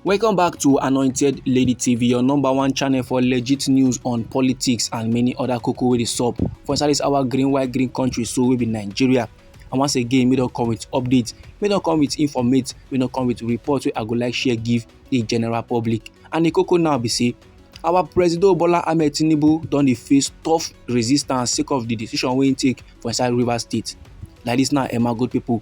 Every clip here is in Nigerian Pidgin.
Welcome back to Anointed Lady TV, your number one channel for legit news on politics and many other cocoa wey dey sup. For inside this our green white green country so we be Nigeria. And once again, we don come with updates, we don come with informate, we don come with reports wey I go like share give the general public. And the cocoa now be say our president bola ahmed tinubu don dey face tough resistance sake of di decision wey im take for inside rivers state like dis now emma good pipo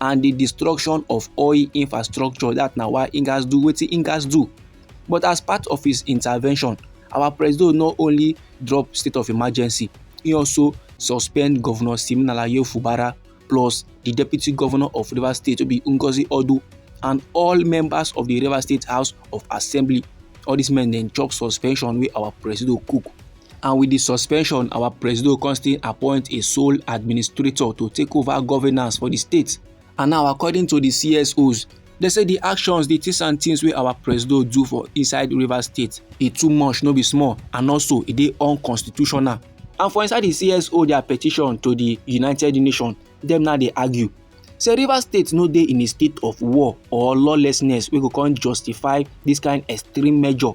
and the destruction of oil infrastructure that na why im gats do wetin im gats do but as part of his intervention our president not only drop state of emergency he also suspend governor siminalayi fubara plus the deputy governor of rivers state wey be ngozi odu and all members of the rivers state house of assembly all these men dem chop suspension wey our president cook and with di suspension our presido come still appoint a sole administrator to take over governance for di state and now according to di csos dem say di actions di things and things wey our presido do for inside rivers state e too much no be small and also e dey unconstitutional and for inside di cso dia petition to di united nations dem now dey argue say rivers state no dey in a state of war or lawlessness wey go come justify dis kain extreme measure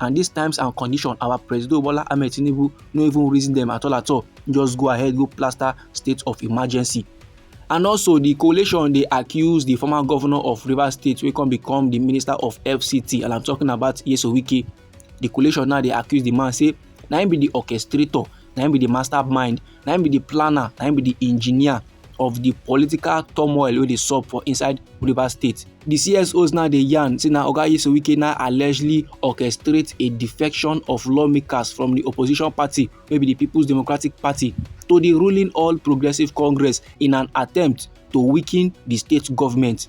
and these times and condition our president bola ahmed tinubu no even reason them at all at all just go ahead go plaster state of emergency and also the coalition dey accuse the former governor of rivers state wey come become the minister of fct and i'm talking about yeso wike the coalition now dey accuse the man say na him be the orchestrator na him be the mastermind na im be the planner na im be the engineer of the political turmoil wey dey sup for inside rivers state di csos now dey yarn say na oga yesu wike now allegedly orchestrate a defection of lawmakers from di opposition party wey be di peoples democratic party to di ruling all progressives congress in an attempt to weaken di state government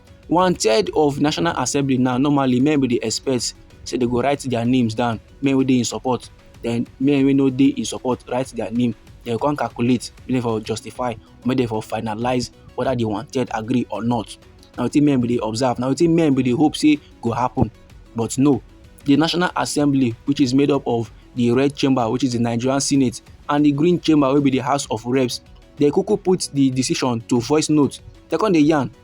one third of national assembly now normally men we dey expect say they go write their names down men wey dey in support then men wey no dey in support write their name then come calculate make dem for justify make dem for finalize whether the one third agree or not na wetin men we dey observe na wetin men we dey hope say go happen but no the national assembly which is made up of the red chamber which is the nigerian senate and the green chamber wey be the house of reps dem kuku put the decision to voice note dem come dey yarn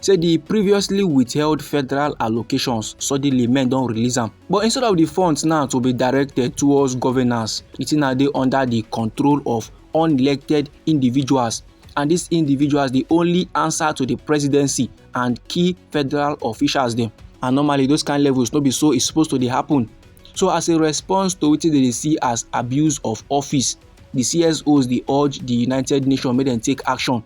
say di previously withheld federal allocations suddenly men don release am but instead of di funds now to be directed towards governance di thing now dey under di control of unelected individuals and these individuals dey only answer to the presidency and key federal officials dem and normally those kind levels no be so e suppose to dey happen so as a response to wetin dem dey see as abuse of office di csos dey urge di united nations make dem take action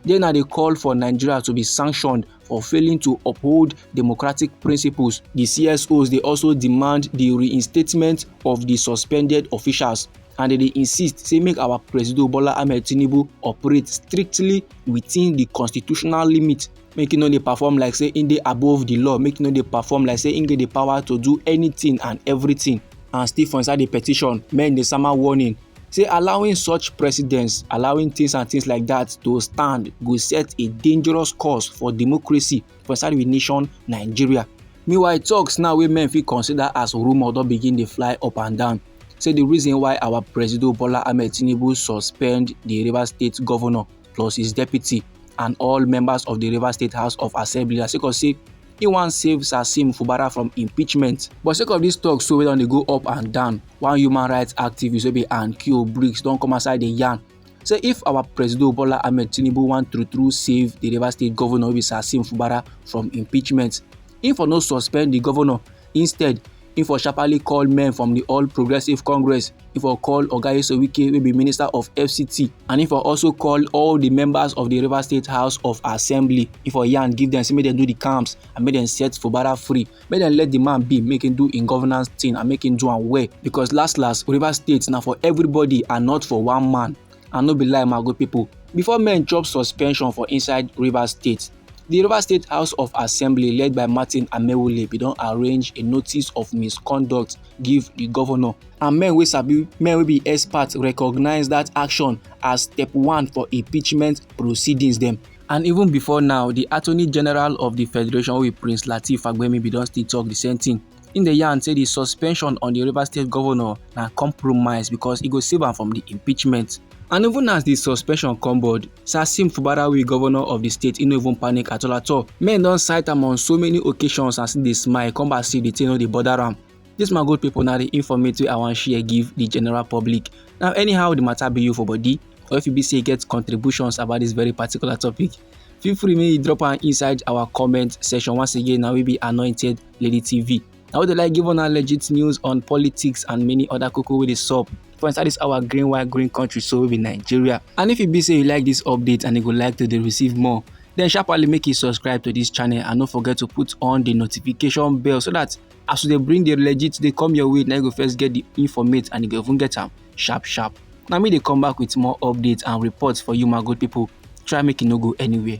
They now they call for Nigeria to be sanctioned for failing to uphold democratic principles. The CSOs they also demand the reinstatement of the suspended officials and they insist say make our president Bola Ahmed Tinubu operate strictly within the constitutional limit make e no dey perform like say im dey above the law make e no dey perform like say im get the power to do anything and everything and still for inside the petition men dey sama warning say allowing such precedents, allowing things and things like that to stand go set a dangerous course for democracy for inside we nation Nigeria. Meanwhile, talks now wey men fit consider as rumour don begin dey fly up and down. Say the reason why our Presido Bola Ahmed Tinubu suspend the Rivers State governor plus his deputy and all members of the River State House of Assembly as sake of say he wan save Sasim Fubara from impeachment. But sake of this talk so wey don dey go up and down, one human rights activist wey be Ankio Briggs don come outside dey yarn say if our president Bola Ahmed Tinubu wan true true save the River State governor wey be Sasim Fubara from impeachment, he for no suspend the governor instead He for sharply call men from the All Progressive Congress. He for call Oga Esewike, will be Minister of FCT. And he for also call all the members of the River State House of Assembly. He for yarn, give them, say make them do the camps and make them set for Bara free. Make them let the man be, make him do in governance thing and make him do and well. Because last last, River State now for everybody and not for one man. And no be lie, my good people. Before men chop suspension for inside River State, Di Rivers State House of Assembly led by Martin Amaewhule bin don arrange a notice of misconduct give di governor and men wey sabi men wey be experts recognise dat action as step one for impeachment proceedings dem. And even before now, di Attorney General of di Federation wey be Prince Lateef Fagbemi bin don still tok di same tin. im dey yarn say di suspension on di rivers state govnor na compromise because e go save am from di impeachment. And even as di suspension come board, Sasim Fubarawi, govnor of di state, e no even panic at all at all. Men don cite am on so many occasions as e dey smile, come back say di thing no dey bother am. This my good people na the informate wey I wan share give the general public. Now anyhow the matter be you for body or if you be say you get contributions about this very particular topic, feel free make you drop am inside our comment section once again na we be anointed lady tv na we dey like give una legit news on politics and many other koko wey dey sup for inside this our green white green country so we be nigeria and if e be say you like this update and you go like to dey receive more then sharply make you subscribe to this channel and no forget to put on the notification bell so that as we dey bring the legit dey come your way na you go first get the informate and you go even get am sharp sharp. Na me dey come back with more updates and reports for you my good people. Try make you no go anywhere.